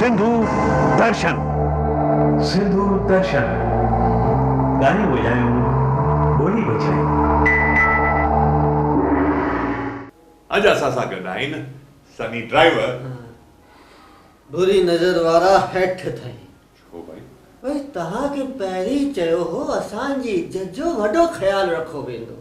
سنڌو درشن سنڌو درشن ڳايون وڄايون ٻولي بچايون. اڄ اسان سان گڏ آهن سني ڊرائيور. بري نظر وارا هيٺ ٿهين. ڇو ڀائي؟ ڀائي توهان کي پهرين چيو هو اسان جي ججو وڏو خيال رکو ويندو.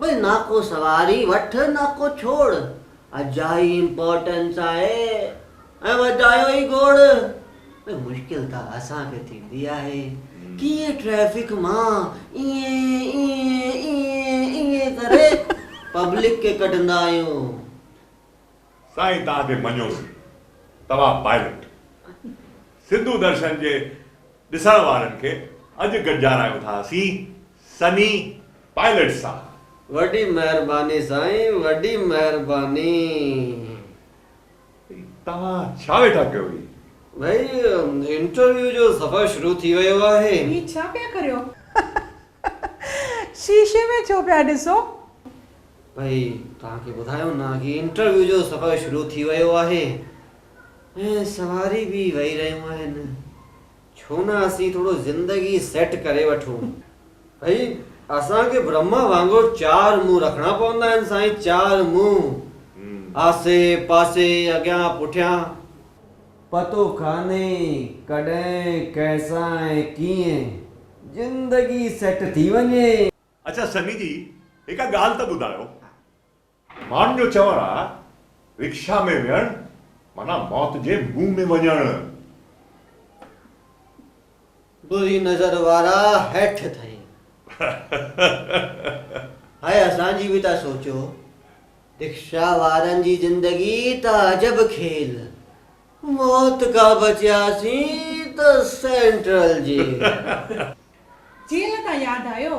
بھي ناکو سواري وٺ ناکو ڇوڙ اجائي امپورٽنس آھي ۽ وڌايو ھي گوڙ بھي مشڪل ته اسان کي ٿيندي آھي ڪيئن ٽريفڪ مان ائين ائين ائين ائين ڪري پبلڪ کي ڪڍندا آھيون. سائين توھان کي مڃيوسين توھان پائلٽ سنڌو درشن جي ڏسڻ وارن کي اڄ گڏجارايون ٿا اسين سني پائلٽ سان. وڏي مهرباني سائين وڏي مهرباني. توهان ڇا ويٺا ڪيو هي. ڀئي انٽرويو جو سفر شروع ٿي ويو آهي. هي ڇا پيا ڪريو. شيشي ۾ ڇو پيا ڏسو. ڀئي توهان کي ٻڌايو نه هي انٽرويو جو سفر شروع ٿي ويو آهي ۽ سواري به وهي رهيون آهن ڇو نه اسين ٿورو زندگي سيٽ ڪري وٺون. ڀئي اسان کي برهما وانگر چار منهن رکڻا پوندا آهن سائين چار منهن آسي پاسي اڳيان پٺيان. پتو ڪانهي ڪڏهن ڪئسان ۽ ڪيئن زندگي سيٽ ٿي وڃي. اڇا سني جي هڪ ڳالهه ته ٻڌايو. ماڻهن جو چوڻ آهي رڪشا ۾ ويهڻ معنيٰ موت جي منهن ۾ وڃڻ. بري نظر وارا هيٺ ٿئي. هاء اسان جي به ته سوچو. رڪشا وارن جي زندگي ته عجب کيل. موت کان بچياسين ته سينٽرل جيل. جيل تان ياد آيو.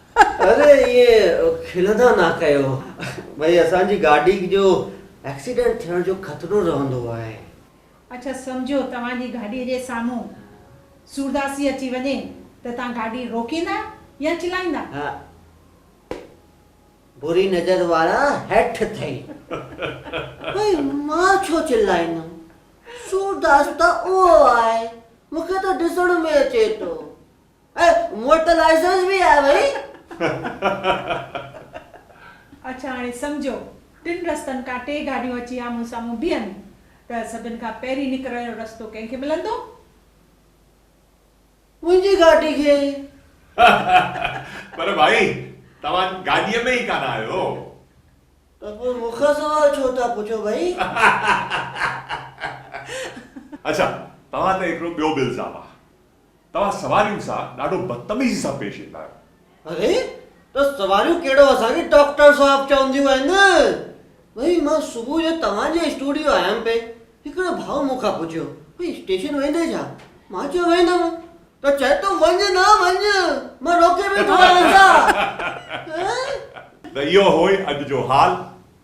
اري ائين کلندا نه ڪيو ڀئي اسان جي گاڏي جو ايڪسيڊنٽ ٿيڻ جو خطرو رهندو آهي. اڇا سمجهو توهان جي گاڏي جي سامهون سورداسي اچي وڃي ته توهان گاڏي روڪيندا يا چلائيندا؟ ها بري نظر وارا هيٺ ٿئي ڀئي مان ڇو چلائيندم سورداس ته اهو آهي مون کي ته ڏسڻ ۾ اچي ٿو. اهي موٽلائيزرز به آهي ڀئي. اڇا هاڻي سمجهو ٽن رستن کان ٽي گاڏيون اچي آمهون سامهون بيهن ته سڀن کان پهرين نڪرڻ جو رستو ڪنهن کي ملندو؟ منهنجي گاڏي کي. پر ڀائي توهان گاڏيء ۾ ئي ڪانه آهيو. ته پوء مون کان سوال ڇو ٿا پڇو ڀئي؟ اڇا توهان تي هڪڙو ٻيو به الزام آهي. توهان سوارين سان ڏاڍو بدتميزي سان پيش ايندا آهيو. اري ته سواريون ڪهڙو اسان کي ڊاڪٽر صاحب چونديون آهن. ڀئي مان صبح جو توهان جي اسٽوڊيو آيم پئي، هڪڙو ڀاء مون کان پڇيو، ڀئي اسٽيشن ويندين ڇا؟ مان چيو ويندم ته چئي ٿو وڃ نه وڃ، مان روڪي ويٺو آهيان ڇا؟ ته اهو هوئي اڄ جو حال،